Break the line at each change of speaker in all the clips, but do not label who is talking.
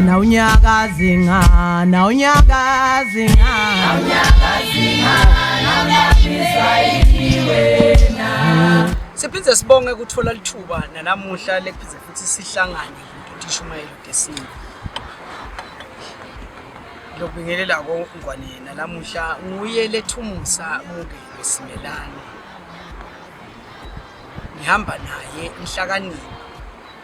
na unyaka zinga na unyaka zinga na unyaka zinga na
unyaka wena siphinde sibonge ukuthola lithuba nanamuhla lekuphinde futhi sihlangane ngishumayela ugesini lokubingelela kongwane yena lamuhla nguye lethumusa umngelo simelane ngihamba naye inhlakanipho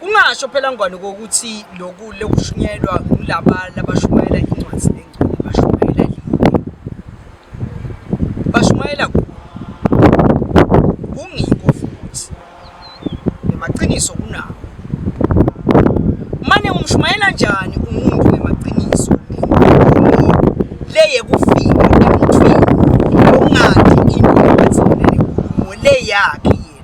Kungasho phela ngwane kokuthi lokhu lokushunyelwa kulaba labashumayela incwadi lengcwele bashumayela lini? Bashumayela ku kungiko futhi nemaqiniso kunawo. Mane umshumayela njani umuntu nemaqiniso leye kufika emuntwini ongathi into ebathelele kuwo le yakhe yena.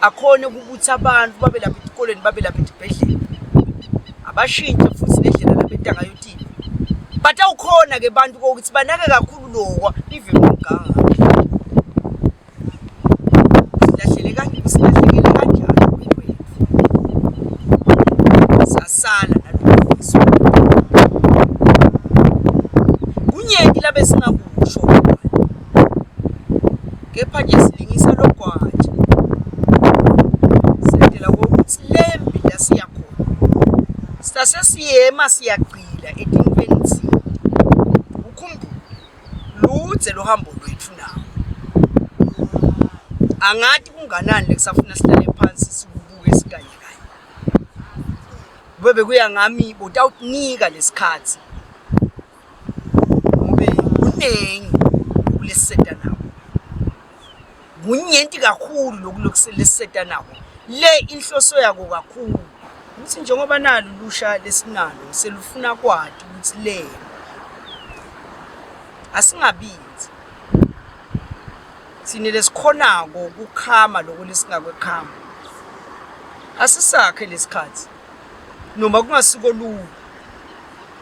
akhone ukubutha abantu babe lapha etikoleni babe lapha etibhedlela abashintshe futhi nendlela lapha etangayotini but awukhona ke bantu kokuthi banake kakhulu lokwa even umganga kepha nje silingisa logwaja sendela kokuthi le mbila siya khona sitase siyema siyagcila etinfeni thina ukhumbule ludze lohambo lwethu nawo angati kunganani lekusafuna sihlale phansi sikubuke sikanye kanye kube bekuya ngami botawukunika lesikhathi ngobe kuningi ukuleseta nako kunyenti kakhulu lokulokuseleseta nako le inhloso yako kakhulu ukuthi njengoba nalo lusha lesinalo selufuna kwati ukuthi le asingabinzi sine lesikhonako kukhama loko lesingakwekhama asisakhe lesikhathi noma kungasiko lula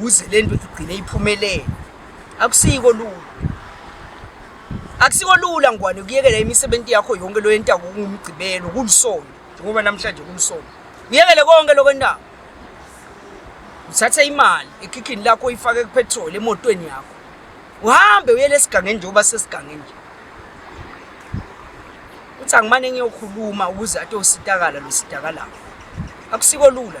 kuze le nto igcine iphumelele akusiko lula akusiko lula ngwane kuyekela imisebenzi yakho yonke lo yenta kungumgcibelo kulisonto njengoba namhlanje kulisonto uyekele konke lokho endawo uthathe imali ekhikhini lakho uyifake kupetrol emotweni yakho uhambe uyele esigangeni njengoba sesigangeni nje uthi angimane ngiyokhuluma ukuze atositakala lositakalayo akusiko lula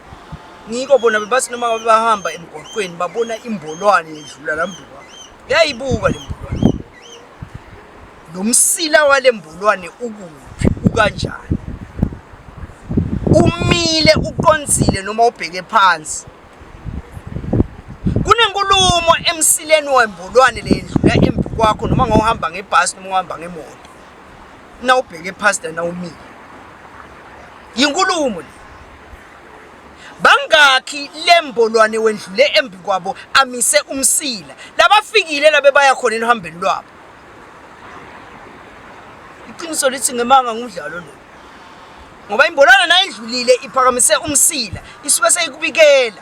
Ngiko bona bebathi noma babahamba emgwaqweni babona imbolwane yedlula la mbulwane. Yayibuka le mbulwane. Lo msila wale mbulwane ukuphi ukanjani? Umile uqonzile noma ubheke phansi. Kunenkulumo emsileni wembulwane le yedlula embi kwakho noma ngohamba ngebhasi noma uhamba ngemoto. Na ubheke phansi na umile. Yinkulumo le. bangakhi lembolwane wendlule embi kwabo amise umsila labafikile labe baya khona elihambeni lwabo iqiniso lithi ngemanga ngumdlalo lo ngoba imbolwana nayidlulile iphakamise umsila isuke seyikubikela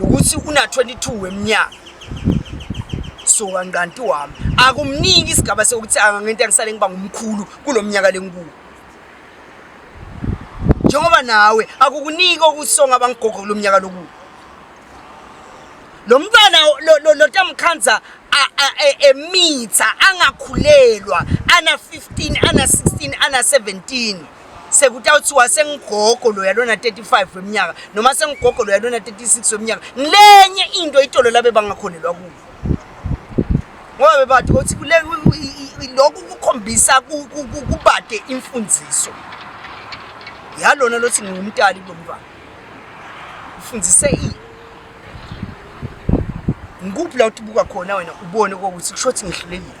ukuthi una 22 weminyaka so kanqanti wami akumniki isigaba sokuthi angangento angisale ngiba ngumkhulu kulomnyaka lenkuku njengoba nawe akukuniki okusonga abangigogo kulomnyaka lokuku lo mntwana lotamkhanza e, emitha angakhulelwa ana 15 ana 16 ana 17 sekutawuthiwa sengigogo loya lona 35 weminyaka noma sengigogo loya lona 36 weminyaka ngilenye into itolo labe bangakhonelwa kuyo ngoba bebathi ukuthi kule lokhu kukhombisa kubade imfundiso yalona lothi ngingumtali kulo mntwana ufundise ini ngikuphi la uthi buka khona wena ubone kokuthi kusho ukuthi ngihlulekile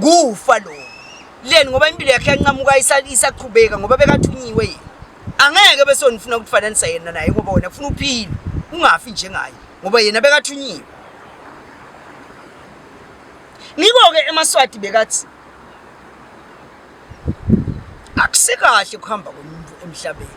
kufa lo leni ngoba impilo yakhe yanqamuka isaqhubeka ngoba bekathunyiwe yena angeke bese nifuna ukufananisa yena naye ngoba wena ufuna uphile ungafi njengaye ngoba yena bekathunyiwe ngiko-ke emaswati bekathi akusikahle ukuhamba komuntu emhlabeni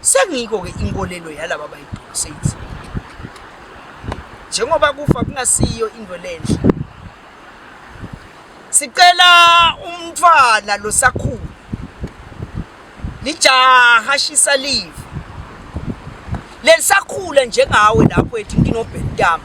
Sengiyiko-ke inkolelo yalaba bayibhulu seyithi njengoba kufa kungasiyo into lenhle sicela umntwana losakhulu lijaha shisa live lelisakhula njengawe lapho ethi nginobhentama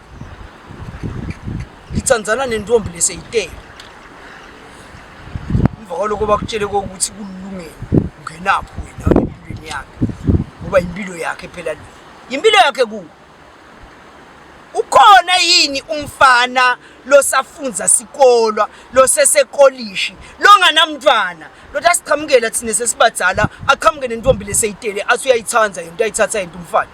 ngitsandzana nentombi leseyitele emva kwaloko bakutshele kokuthi kulungele ungenapho wena empilweni yakhe ngoba impilo yakhe phela le impilo yakhe ku ukhona yini umfana losafunza sikolwa losesekolishi longanamntwana lothi asiqhamukela thina sesibadala aqhamuke nentombi leseyitele athi uyayithanda yento ayithatha yento umfana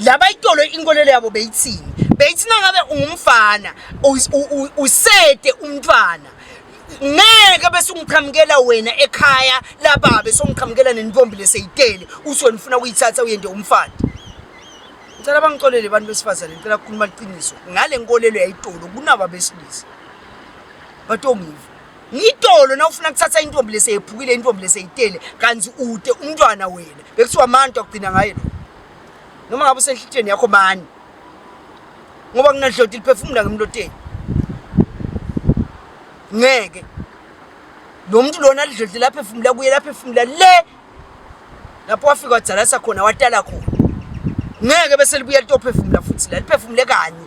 laba itolo inkolelo yabo beyithini beyithi nangabe ungumfana usete umntwana ngeke bese ungiqhamukela wena ekhaya lababa bese ungiqhamukela nentombi leseyitele uthi wena ufuna ukuyithatha uyende umfana ngicela bangixolele abantu besifazane ngicela kukhuluma iqiniso ngale nkolelo yayitolo kunaba besilisa batongiva ngitolo nawufuna kuthatha intombi leseyephukile intombi leseyitele kanti ude umntwana wena bekuthiwa amantu akugcina ngaye lo noma ngabe usenhlitsheni yakho bani ngoba kunadloti liphefumula ngemloteni ngeke lo muntu lona lidlodle lapha efumula kuye lapha efumula le lapho wafika wadalasa khona watala khona ngeke bese libuya litophefumula futhi la liphefumule kanye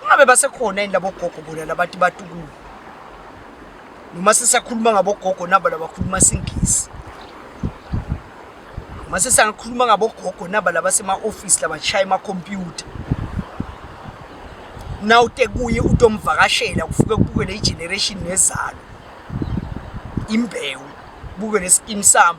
Kungabe basekhona yini labo gogo bona labantu batukulu? Noma sisakhuluma ngabo gogo nabo labakhuluma singisi. Noma sisakhuluma ngabo gogo nabo labasema office labashaya ama computer. Now te kuye utomvakashela kufuke kubuke le generation nezalo. Imbewu buke lesimsamo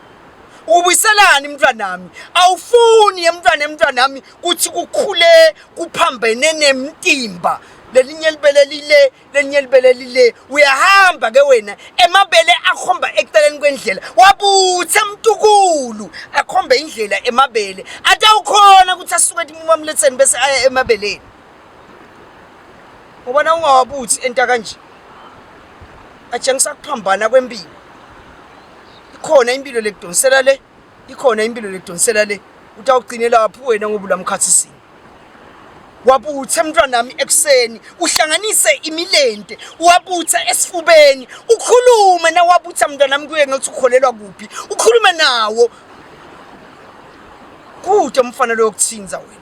ubuyiselani mntwanami awufuni emntwana emntwanami kuthi kukhule kuphambene nemtimba lelinye libele lile lelinye libele lile uyahamba ke wena emabele akhomba eceleni kwendlela wabuthe mntukulu akhombe indlela emabele atawukhona ukuthi asuke etimumamletheni bese aya emabeleni ngoba na ungawabuthi enta kanje atshengisa kuphambana kwempilo ikhona impilo lekudonsela le ikhona impilo lekudonsela le uthi awugcine lapho wena ngoba ulamkhathisini wabuthe mntwanami ekuseni uhlanganise imilente wabuthe esifubeni ukhulume na wabutha mntwanami kuye ngathi ukholelwa kuphi ukhulume nawo kude umfana loyokuthinza wena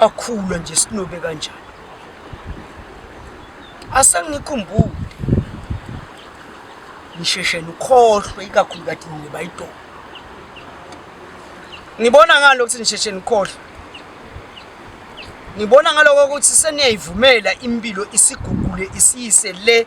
akhula nje sinobe kanjani asengikhumbule ngisheshe nikhohlwe ikakhulu kade ngiba idolo ngibona ngalo ukuthi ngisheshe nikhohlwe ngibona ngaloko ukuthi seniyayivumela impilo isigugule isiyise le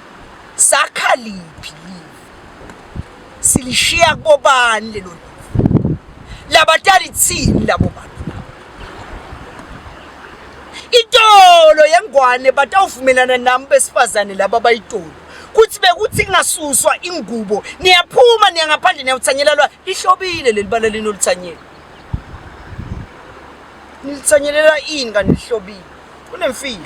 Sakha liphi live? Silishiya kubobani lelo live? Labatali thini labo bantu labo? Itolo yengwane batawuvumelana nami besifazane laba bayitolo kuthi bekuthi ingasuswa ingubo niyaphuma niya ngaphandle niyawuthanyela lwa lihlobile leli bala linoluthanyela nilithanyelela ini kanti lihlobile kunemfihlo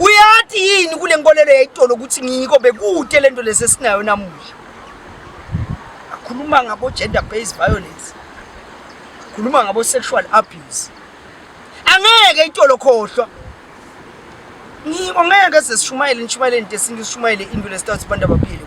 uyathi yini kule nkolelo yayitolo ukuthi ngiyiko bekude lento lesi esinayo namuhla akhuluma ngabo gender based violence khuluma ngabo sexual abuse angeke itolo khohlwa ngiko ngeke sesishumayele nishumayele into esintu sishumayele into lesithathu abantu abaphile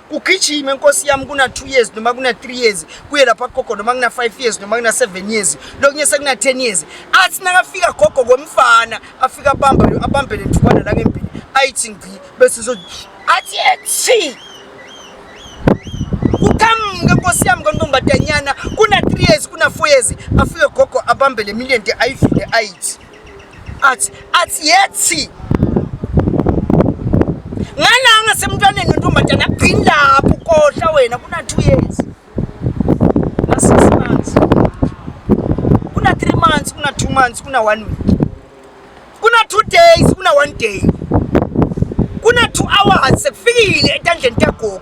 kugijime nkosi yami kuna-two years noma kuna-three years kuye lapha gogo noma kuna-five years noma kuna-seven years lokunye sekuna-ten years athi nakafika gogo komfana afike abambe le nthukwana la ngempini ayithi ngci bese zo athi ethi kuqhamuke nkosi yami kontombadanyana kuna-three years kuna-four years afike gogo abambe le million de ayivile ayithi athi athi yethi ngalanga semntwaneni wentombazane agcini lapho ukohla wena kuna two years na six months kuna three months kuna two months kuna one week kuna two days kuna one day kuna two hours sekufikile etandleni tagogo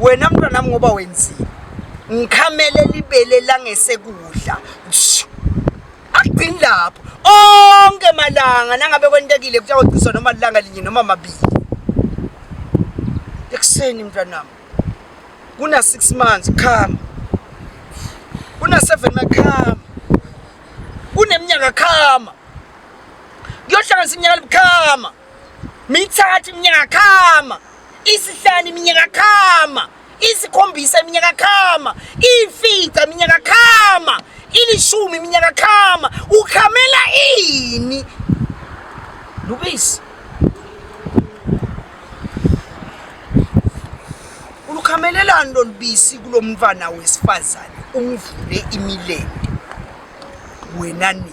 wena mntwana wami ngoba wenzile ngikhamele libele langesekudla agcini lapho onke malanga nangabe kwentekile kuthiwa ciswa noma lilanga linye noma mabili ekuseni mntwanami kuna six months khama kuna seven makhama kuneminyaka khama kuyohlanganisa iminyaka libukhama mithathu iminyaka khama isihlanu iminyaka khama isikhombisa iminyaka khama ifica iminyaka khama ilishumi iminyaka khama ukhamela ini lubisi ulukhamelelani lolubisi kulo mntwana wesifazane umvule imilende wena nini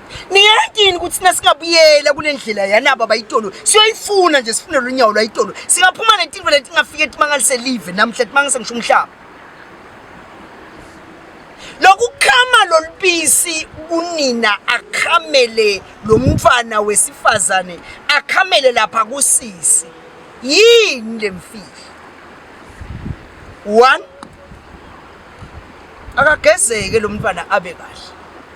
niyazi yini ukuthi thina singabuyela kule ndlela yanabo abayitolo siyoyifuna nje sifunele unyawo lwayitolo singaphuma netinto letingafike timangalise live namhla timangise ngisho umhlaba lokukhama lolubisi kunina akhamele lo mfana wesifazane akhamele lapha kusisi yini le mfihlo one akagezeke lo mfana abe kahle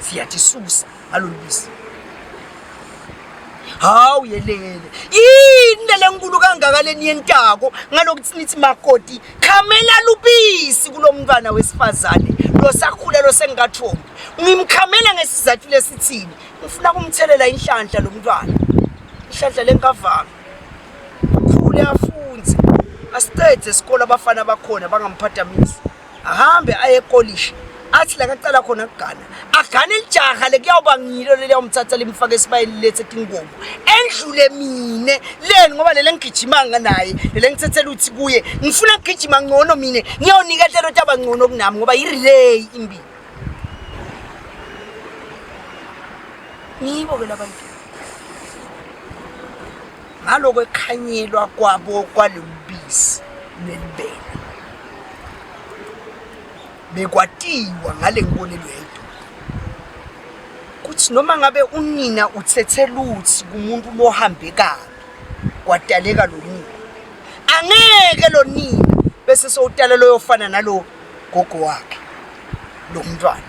siyathi susa ngalolu bisi hawu yelele yini lelenkulu kangaka leni yentako ngalokuthi nithi makoti khamela lubisi kulo mntwana wesifazane losakhula losengingathombi ngimkhamela ngesizathu lesithini ngifuna kumthelela inhlanhla lo mntwana inhlanhla lenkavanga ukhule afunze asiqede esikole abafana bakhona bangamphathamisi ahambe aye ekolishi athi la kacala khona kugana agane lijaha le kuyawuba ngilo leli yawumthatha limfake esibayeni lethe tinkomo endlule mine leni ngoba lele ngigijimanga naye lele ngithethela ukuthi kuye ngifuna ngigijima ngcono mina ngiyawunika hlelo ukuthi abangcono kunami ngoba yi-relay imbi ngiyibo ke labantu ngaloko ekukhanyelwa kwabo kwalolubisi lwelibele bekwatiwa ngale nkolelo yedwa kuthi noma ngabe unina uthethe luthi kumuntu lohambe kabi kwadaleka lo nina angeke lo nina bese sowutala loyofana nalo gogo wakhe lo mntwana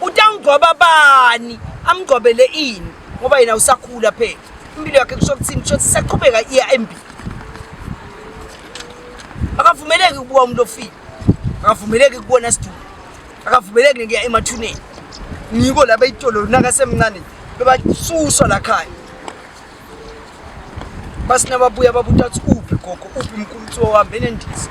utangigcoba bani amgcobele ini ngoba yena usakhula phela impilo yakhe kusho kuthini kusho ukuthi saqhubeka iya embili akavumeleki ukubuka umuntu ofile akavumeleki kubona sidumbu akavumeleki nekuya emathuneni ngiko laba itolo nakasemncane bebasuswa la khaya basinababuya babuta ukuthi uphi gogo uphi mkhulu kuthiwa uhambene ndiza